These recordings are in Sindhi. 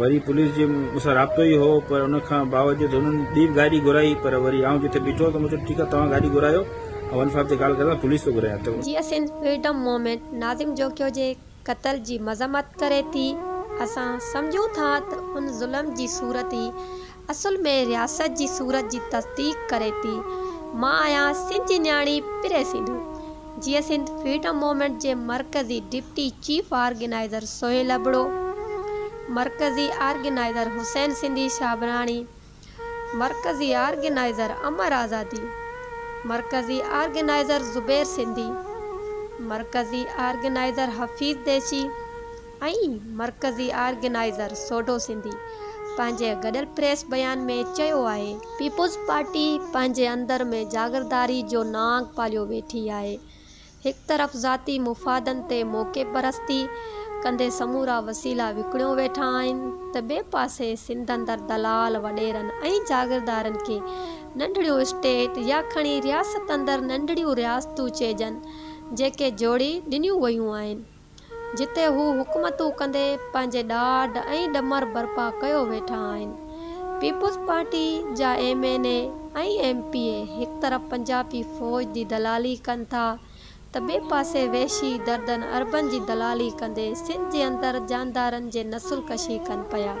وري پوليس جي مون سان رابطو ئي هو پر ان کان باوجود انهن ٻي گاڏي گهرائي پر وري آئون جتي بيٺو ته مون چيو ٺيڪ آهي توهان گاڏي گهرايو آئون ون فائيو تي ڪال ڪريان ٿو پوليس ٿو گهرايان ته جي ايس اين فريڊم موومينٽ ناظم جوکيو جي قتل جي مذمت ڪري ٿي، اسان سمجهون ٿا ته ان ظلم جي صورت ئي اصل ۾ رياست جي صورت جي تصديق ڪري ٿي. مان آهيان سنڌ جي نياڻي پري سنڌو جيئن سنڌ فريڊم موومينٽ جي مرڪزي deputy chief organizer Sohail Abro, مرڪزي آرگنائيزر حسين سنڌي شابراڻي، مرڪزي آرگنائيزر امر آزادي، مرڪزي آرگنائيزر زبير سنڌي، مرڪزي آرگنائيزر حفيظ ديشي، ۽ مرڪزي آرگنائيزر سوڍو سنڌي پنهنجي گڏيل پريس بيان ۾ چيو آهي. پيپلز پارٽي پنهنجي اندر ۾ جاگيرداري جو نانگ پاليو ويٺي آهي، هڪ طرف ذاتي مفادن تي موقعي پرستي ڪندي سمورا وسيلا وڪڻيو ويٺا آهن ته ٻئي پاسي سنڌ اندر دلال، وڏيرن ۽ جاگيردارن کي ننڍڙيون اسٽيٽ يا کڻي رياست اندر ننڍڙيون رياستون چئجن جيڪي جوڙي ڏنيون ويون آهن. جتي هو حڪومتون ڪندي پنهنجي ڏاڍ ۽ ڏمر برپا ڪيو ويٺا آهن. پيپلز پارٽي جا M N A ۽ M P A هڪ طرف پنجابي فوج جي دلالي ڪن ٿا ته ٻئي پاسي وحشي دردن اربن جي دلالي ڪندي سنڌ جي اندر جاندارن جي نسل ڪشي ڪن پيا.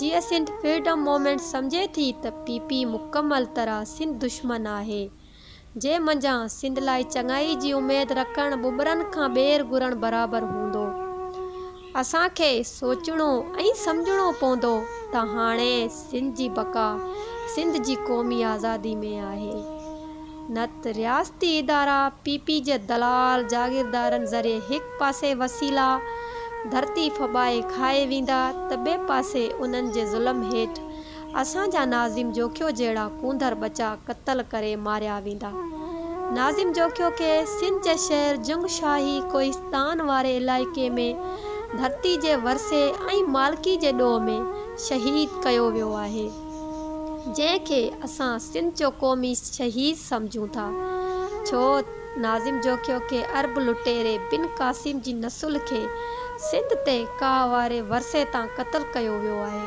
جي اسنٽ فريڊم مومينٽ سمجهي ٿي ته پي پي مڪمل طرح سنڌ دشمن آهي جي منجهان سنڌ لاء چڱائي جي اميد رکڻ ٻٻرن کان ٻير گهرڻ برابر هوندو اسان کي سوچڻو ۽ سمجهڻو پوندو ته هاڻي سنڌ جي بقا سنڌ جي قومي آزادي ۾ آهي نت رياستي ادارا پي پي جي دلال جاگيردارن ذريعي هڪ پاسي وسيلا ڌرتي ڦٻائي کائي ويندا ته ٻئي پاسي انهن جي ظلم هيٺ اسان جا ناظم جوکيو جهڙا ڪونڌر ٻچا قتل ڪري ماريا ويندا ناظم جوکيو کي سنڌ جي شهر جنگ شاهي ڪوهستان واري علائقي ۾ ڌرتي جي ورثي ۽ مالڪي جي ڏوهه ۾ شهيد ڪيو ويو آهي. جنهن کي اسان سنڌ جو قومي شهيد سمجهون ٿا ڇو ناظم جوکيو کي عرب لٽيري بن قاسم جي نسل کي سنڌ تي ڪاهه واري ورثي تان قتل ڪيو ويو آهي.